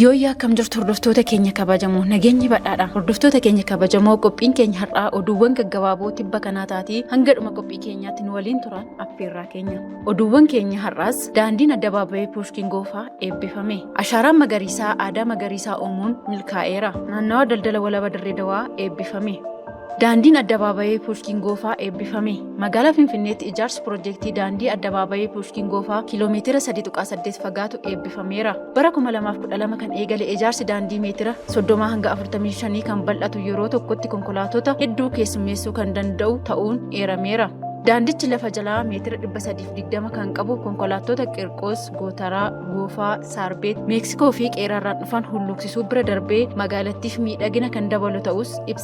Yooyyaa akkam jirtu hordoftoota keenya kabajamoo nageenyi badhaadha hordoftoota keenya kabajamoo qophiin keenya har'aa oduuwwan gaggabaaboo tibba kanaa taatee hanga dhuma qophii keenyaatti nu waliin turaa affeerraa keenya oduuwwan keenya har'aas daandiin addabaabayee puushkiin goofaa eebbifame ashaaraan magariisaa aadaa magariisaa uumuun milkaa'eera naannawa daldala walaba dirree dawaa eebbifame Daandiin Addabaabayii Puushkiin Goofaa eebbifame. Magaalaa Finfinneetti ijaarsi pirojektii daandii Addabaabayii Puushkiin Goofaa kiiloomeetira 3.8 fagaatu eebbifameera. Bara 2012 kan eegale ijaarsi daandii meetira 30 hanga 45 kan bal'atu yeroo tokkotti konkolaatota hedduu keessummeessuu kan danda'u ta'uun eerameera. Daandichi lafa jalaa meetira 320 kan qabu konkolaattota Qirqoos, Gootaraa, Goofaa, Saarbeet, Meeksikoo fi Qeeraarraan dhufan hulluuqsisuu bira darbee magaalattiif miidhagina kan dabalu ta'us ibsa.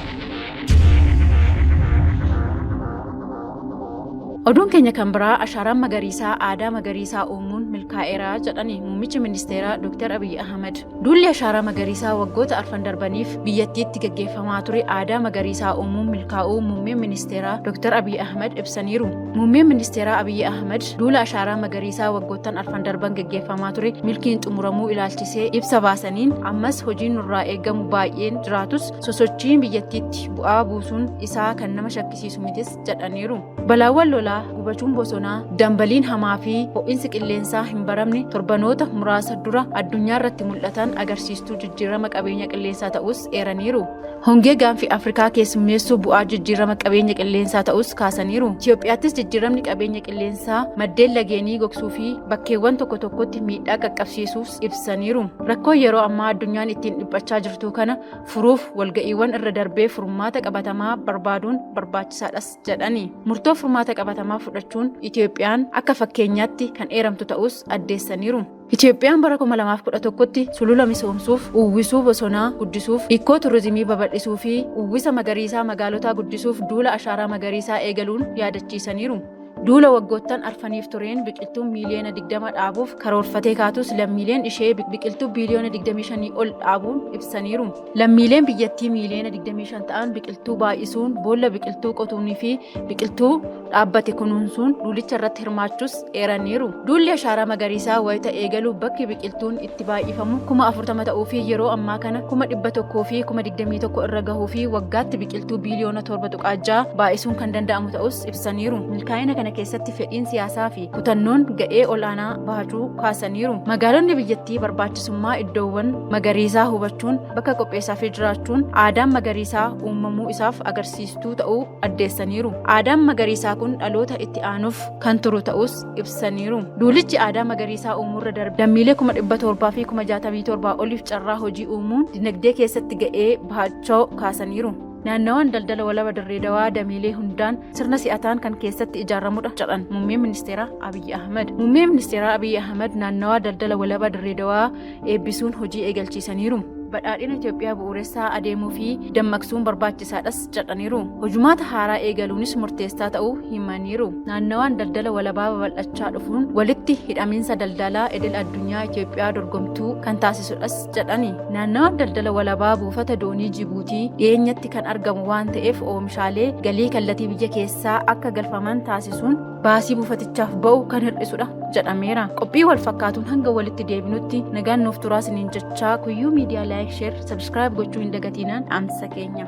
Oduun keenya kan biraa ashaaraan magariisaa aadaa magariisaa uumuun milkaa'eera jedhani muummichi ministeeraa Dr. Abiyyi Ahmad. Duulli ashaaraa magariisaa waggoota arfan darbaniif biyyattiitti gaggeeffamaa ture aadaa magariisaa uumuun milkaa'uu muummeen ministeeraa Dr. Abiyyi Ahmad ibsaniiru. Muummeen ministeeraa Abiyyi Ahmad duula ashaaraa magariisaa waggoottan arfan darban gaggeeffamaa ture milkiin xumuramuu ilaalchisee ibsa baasaniin ammas hojiin nurraa eegamu baay'een jiraatus sosochiin biyyattiitti bu'aa buusuun isaa kan nama shakkisiisu mitis jedhaniiru. Balaawwan lolaa, gubachuun bosonaa, dambaliin hamaa fi ho'insi qilleensaa hin baramne torbanoota muraasa dura addunyaa irratti mul'atan agarsiistuu jijjiirama qabeenya qilleensaa ta'us eeraniiru. Hongee gaanfi Afrikaa keessummeessuu bu'aa jijjiirama qabeenya qilleensaa ta'us kaasaniiru. Itoophiyaattis jijjiiramni qabeenya qilleensaa maddeen lageenii gogsuu fi bakkeewwan tokko tokkotti miidhaa qaqqabsiisuuf ibsaniiru. Rakkoo yeroo ammaa addunyaan ittiin dhiphachaa jirtuu kana furuuf walga'iiwwan irra darbee furmaata qabatamaa barbaaduun barbaachisaadhas jedhani. Murtoo furmaata qabatamaa fudhachuun Itoophiyaan akka fakkeenyaatti kan eeramtu ta'us addeessaniiru. Itoophiyaan bara 2011tti sulula misoomsuuf, uwwisuu bosonaa guddisuuf, ikkoo turizimii babal'isuu fi uwwisa magariisaa magaalotaa guddisuuf duula ashaaraa magariisaa eegaluun yaadachiisaniiru. Duula waggoottan arfaniif tureen biqiltuu miiliyoona 20 dhaabuuf karoorfatee kaatus lammiileen ishee biqiltuu biiliyoona 25 ol dhaabuun ibsaniiru. Lammiileen biyyattii miiliyoona 25 ta'an biqiltuu baay'isuun, boolla biqiltuu qotuunii fi biqiltuu dhaabbate kunuunsuun duulicha irratti hirmaachuus eeraniiru. Duulli ashaaraa magariisaa wayita eegalu bakki biqiltuun itti baay'ifamu kuma afurtama ta'uu fi yeroo ammaa kana kuma dhibba tokkoo fi kuma digdamii tokko irra gahuu fi waggaatti biqiltuu biiliyoona torba tuqaa ja'a baay'isuun kan danda'amu ta'us ibsaniiru. Milkaa'ina kana keessatti fedhiin siyaasaa fi kutannoon ga'ee ol'aanaa bahachuu kaasaniiru. Magaalonni biyyattii barbaachisummaa iddoowwan magariisaa hubachuun bakka qopheessaa fi jiraachuun aadaan magariisaa uumamuu isaaf agarsiistuu ta'uu addeessaniiru. Aadaan magariisaa kun dhaloota itti aanuuf kan turu ta'us ibsaniiru. Duulichi aadaa magariisaa uumuurra darbe lammiilee kuma dhibba torbaa fi kuma jaatamii torbaa oliif carraa hojii uumuun dinagdee keessatti ga'ee bahachoo kaasaniiru. Naannawaan daldala walaba dirree dawaa dameelee hundaan sirna si'ataan kan keessatti ijaaramudha jedhan muummeen ministeeraa Abiyyi Ahmad. Muummeen ministeeraa Abiyyi Ahmad naannawaa daldala walaba dirree dawaa eebbisuun hojii eegalchiisaniiru. Badhaadhina Itoophiyaa bu'uuressaa adeemuu fi dammaqsuun barbaachisaadhas jedhaniiru. Hojumaata haaraa eegaluunis murteessaa ta'uu himaniiru. Naannawaan daldala walabaa babal'achaa dhufuun walitti hidhamiinsa daldalaa idil addunyaa Itoophiyaa dorgomtuu kan taasisudhas jedhani. Naannawaan daldala walabaa buufata doonii Jibuutii dhiyeenyatti kan argamu waan ta'eef oomishaalee galii kallatii biyya keessaa akka galfaman taasisuun baasii buufatichaaf ba'u kan hir'isudha jedhameera. Qophii wal fakkaatuun hanga walitti deebinutti nagaan nuuf turaa isiniin jechaa kuyyuu miidiyaa laayik sheer sabskiraayib gochuu hin dagatiinaan dhaamsa keenya.